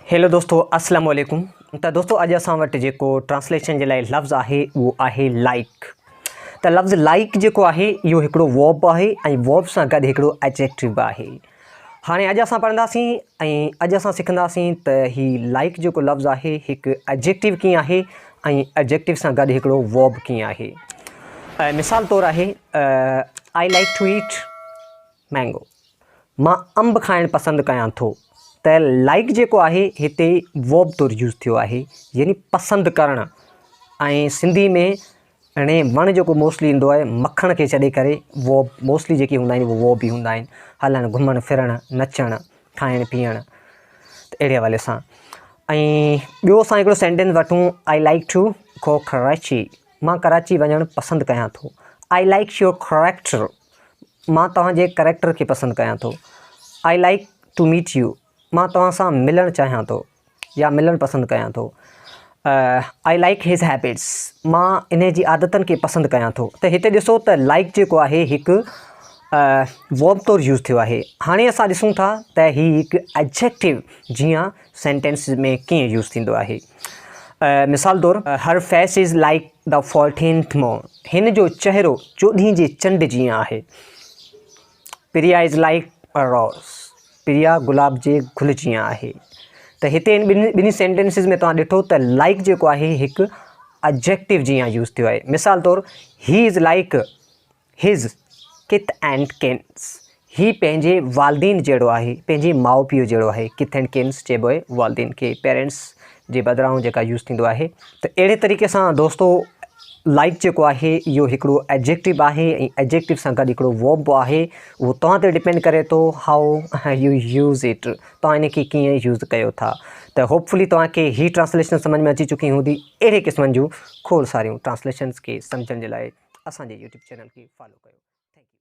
Hello دوستو اسلام عليڪم ته دوستو اڄ اسان وٽ جيڪو ٽرانسليشن جي لاء لفظ آهي اهو آهي لائڪ ته لفظ لائڪ جيڪو آهي اهو هڪڙو ووب آهي ۽ ووب سان گڏ هڪڙو ايجيڪٽو به آهي هاڻي اڄ اسان پڙهنداسين ۽ اڄ اسان سکنداسين ته هي لائڪ جيڪو لفظ آهي هڪ ايڊجيڪٽو ڪين آهي ۽ ايڊجيڪٽو سان گڏ هڪڙو ورب ڪين آهي مثال طور آهي I like to eat mango مان انب کائڻ پسند ڪيان ٿو ته لائڪ جيڪو آهي هتي ورب طور يوز ٿيو آهي يعني پسند ڪرڻ ۽ سنڌي ۾ اڻي وڻ جيڪو موسٽلي ايندو آهي مکڻ کي ڇڏي ڪري وو موسٽلي جيڪي هوندا آهن وو به هوندا آهن هلڻ گهمڻ ڦرڻ نچڻ کائڻ پيئڻ ته اهڙي حوالي سان ۽ ٻيو اسان هڪڙو سينٽينس وٺون I like to go Karachi مان ڪراچي وڃڻ پسند ڪيان ٿو آئي لائڪ يور ڪريڪٽر مان توهان جي ڪريڪٽر کي پسند ڪيان ٿو I like to meet you مان توهان سان ملڻ چاهيان ٿو يا ملڻ پسند ڪيان ٿو. آئي لائيڪ هز هيبٽس مان انهي جي عادتن کي پسند ڪيان ٿو. ته هتي ڏسو ته لائيڪ جيڪو آهي هڪ ورب طور يوز ٿيو آهي. هاڻي اسان ڏسون ٿا ته هي هڪ ايڊجيڪٽو جيان سينٽينس ۾ ڪيئن يوز ٿيندو آهي. مثال طور هر face is like the fourteenth moon هن جو چهرو چوڏهين جي چنڊ جيئن آهي. پريا از لائيڪ ا روز پريا گلاب جي گل جيان آهي ته هتي ان ٻنهي ٻنهي سينٽينسز ۾ توهان ڏٺو ته لائيڪ جيڪو آهي هڪ اجيڪٽو جيان يوز ٿيو آهي مثال طور he is like his kith and kins هي پنهنجي والدين جهڙو آهي پنهنجي ماء پيء جهڙو آهي ڪٿ اينڊ ڪنس چئبو آهي والدين کي پيرنٽس جي بدران جيڪا يوز ٿيندو آهي ته اهڙي طريقي سان دوستو لائڪ جيڪو آهي اهو هڪڙو ايڊجيڪٽو آهي ۽ ايڊجيڪٽو سان گڏ هڪڙو ووب به آهي اهو توهان تي ڊپينڊ ڪري ٿو هائو يو يوز اٽ توهان ان کي ڪيئن يوز ڪيو ٿا ته هوپفلي توهان کي هي ٽرانسليشن سمجھ ۾ اچي چڪي هوندي اهڙي قسمن جون کوڙ ساريون ٽرانسليشنز کي سمجھڻ جي لاء اسان جي يوٽيوب چينل کي فالو ڪيو ٿينڪ يو